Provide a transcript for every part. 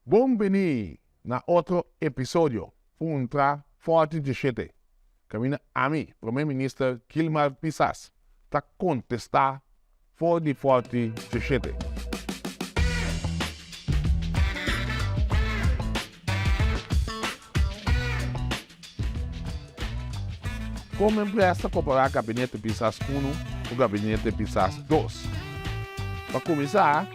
Bon bini na otro episodio Puntra Forte di Shete. Caminda ami, Prome Minister Kilmar Pisas, ta contesta for di Forte di Shete. Como empleas ta copara Gabinete Pisas Uno cu Gabinete Pisas Dos? Pa cuminsa.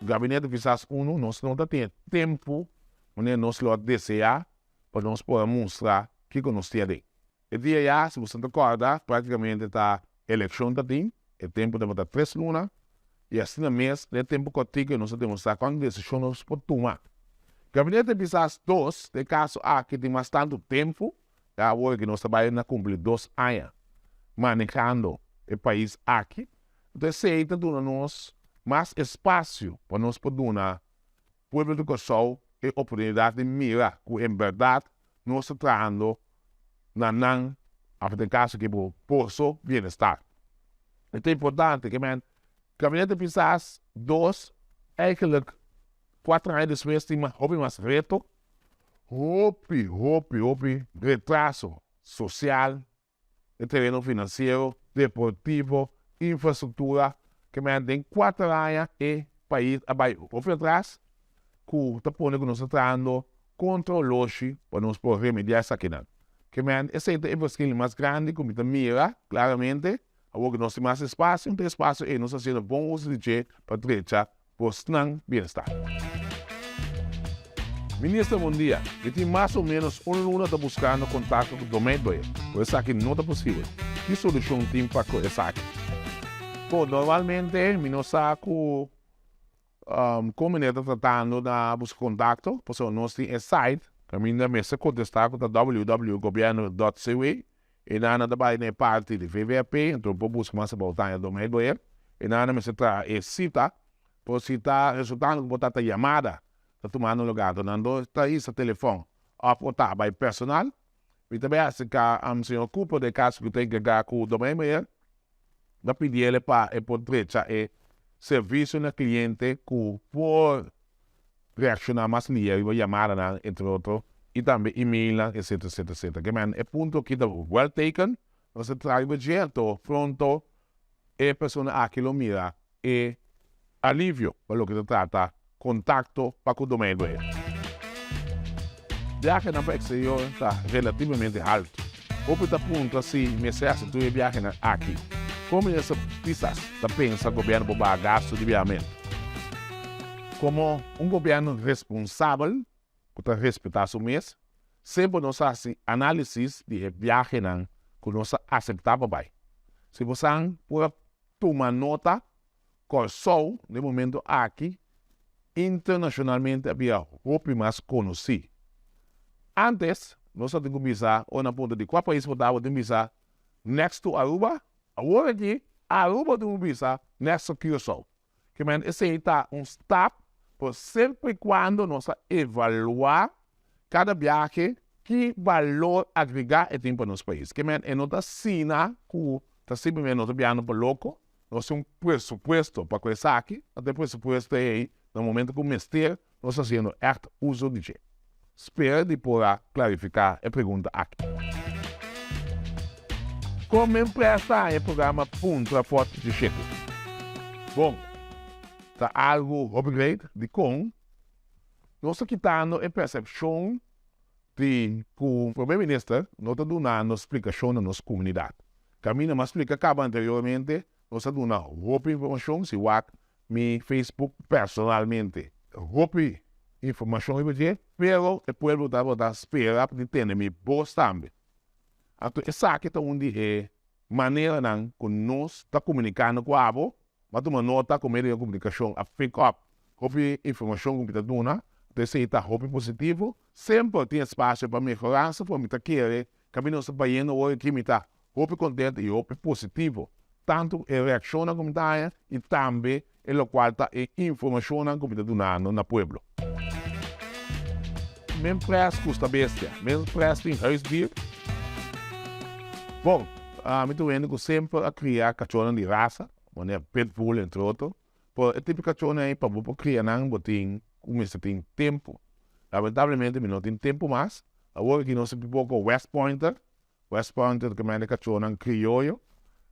Gabinete kisas unu nos no ta tin e tempu manera nos lo a desea pa nos por a mustra kiko nos tin aki. E dia ya, si boso ta kòrda, praktikamente ta elekshon ta tin, e tempu tabata tres luna, i asina mes den e tempu kòrtiku nos a demostrá kon desishon nos por tuma. Gabinete kisas dos, den e kaso aki tin mas tantu tempu, ya awor ke nos ta bai na kumpli dos aña manehando e pais aki. Enton esei ta duna nos mas espacio pa nos por duna pueblo di Kòrsou e oportunidad di mira ku en berdad nos ta trahando na nan, aba den kaso aki bo, poso bienestar. E ta importante ke men Gabinete Pisas dos eigenlik kuater aña despues tin hopi mas reto, hopi, hopi, hopi retraso social, e tereno finansiero, deportivo, infrastruktura, ke men den kuater aña e pais a bai hopi atras, ku ta pone ku nos ta trahando kontra oloshi pa nos por remediá esakinan. Ke men esei ta e verschil mas grandi ku mi ta mira klaramente, awor ku nos tin mas espasio, un ta espasio ei nos ta hasiendo bon uso di dje pa drecha bosnan bienestar. Minister bon dia. Mi tin mas o menos un luna ta buskando kontakto ku Domeij Boyer, ku esaki no ta posibel. Ki solushon tin pa ku esaki? Bo, normalmente mi no sa ku kon mene ta tratando na buska kontakto, pasobra nos tin e site kaminda mester kontestá ku ta www.gobierno.cw. E nana ta bai na e parti di VVAP, anto por buska mas abou ta aña dome bo e. E nana mester traha e sita, por si ta resultando ku bo tata yamada ta tuma nan lugá. Anto nan dos ta hisa telefòn òf bo ta bai personal. Mi ta bai aserká señor Cooper den e kaso ku ta enkargá ku dome bo e. ta pidi el pa e por drecha e servicio na cliente cu por reacciona mas lia riba yamadanan entre otro y tambe emailnan etcetera etcetera etcetera kema hende e punto aki ta well taken nos ta traha riba dje anto pronto e persona aki lo mira e alivio pa loke ta trata kontakto pa ku Domègo e. Biahenan pa eksterior ta relativamente haltu. Hopi ta puntra si mester hasi tur e biahenan aki. Komo esei pisas ta pensa gobièrnu por baha gastu di biahamentu? Komo un gobièrnu responsabel ku ta respetá su mes, semper nos a hasi análisis di e biahenan ku nos a aseptá pa bai. Si bosan por a Tuma nota, Kòrsou den momentu aki internashonalmente a bira hopi mas konosí. Ántes nos a tin ku bisa ora nan punta di kua pais bo ta bo tin bisa next to Aruba, awor aki Aruba tin un bisa next to Curaçao. Kiermènt esei ta un stap, pero semper i kuando nos a evaluá. Kada biahe ki balor agregá e tin pa nos pais. Ke men e no ta asina ku ta sirbi men no ta biahando pa loko, nos tin un presupuesto pa ku esaki, unda e presupuesto ei na momentu ku mester nos hasiendo ègt uso di dje. Spera di por a klarifiká e pregunta aki. Kon men presta e programa puntra fòrti di Shekut? Bon, ta algu hopi great di kon Nos ta kitando e persepshon di ku Prome Minister no ta dunando splikashon na nos komunidat. Kaminda mas splika kaba anteriormente, nos ta duna hopi informashon, si wak mi Facebook personalmente hopi informashon riba dje, pero e pueblo ta lo ta spera di tene mi bos tambe. Anto esaki ta un di e maneranan ku nos ta komunikando ku abo. M'a tuma nota ku medio di komunikashon a fik òp hopi informashon ku mi ta duna, anto esei ta hopi positivo. Semper tin espasio pa mehorá, su por mi ta kere kaminda nos ta bayendo awor aki. Mi ta hopi kontentu i hopi positivo, tantu ku e reakshonnan ku mi ta haña i tambe e lokual ta e informashonnan ku mi ta dunando na pueblo. Men pres ku sta bestia. Men pres tin huisdier. Bon, mi ta un hende ku semper a kria kachónan di rasa, manera pitbull entre otro. Pero e tipo kachónan ei pa bo por kria nan bo tin ku mester tin tempu. Lamentablemente mi no tin tempu mas. Awor aki nos tin pupó ku westpointer. West Point ta mende cachónan crioyo,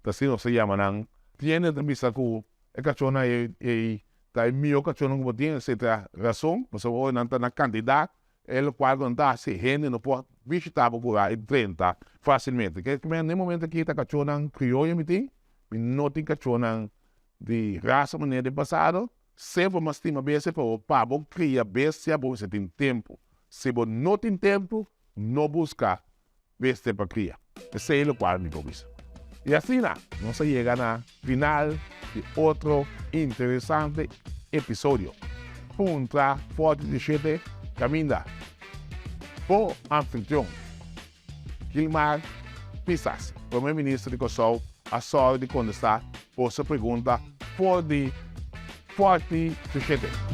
ta así nos ta yama nan. Tiende ta bisa cu e cachónan ey ta e mihó cachónan cu bo tin, esey ta razon pasobra ora nan ta na cantidad e locual cu nan ta haci hende no por bishita bo cura y drenta facilmente. Ke ta mende na e momento aki ta cachónan crioyo mi tin, mi no tin cachónan di raza manera di pasado. Siempre bo mos stima bestia pero pa bo cria bestia bo mester tin tempo, si bo no tin tempo no busca Beste pa kria. Esei lokual mi por bisa. I asina nos a yega na final di otro interesante episodio. Puntra Forte di Shete Caminda, bo anfitrion, Gilmar Pisas, Prome Minister di Kòrsou, a sòru di kontestá boso pregunta for di Forte di Shete.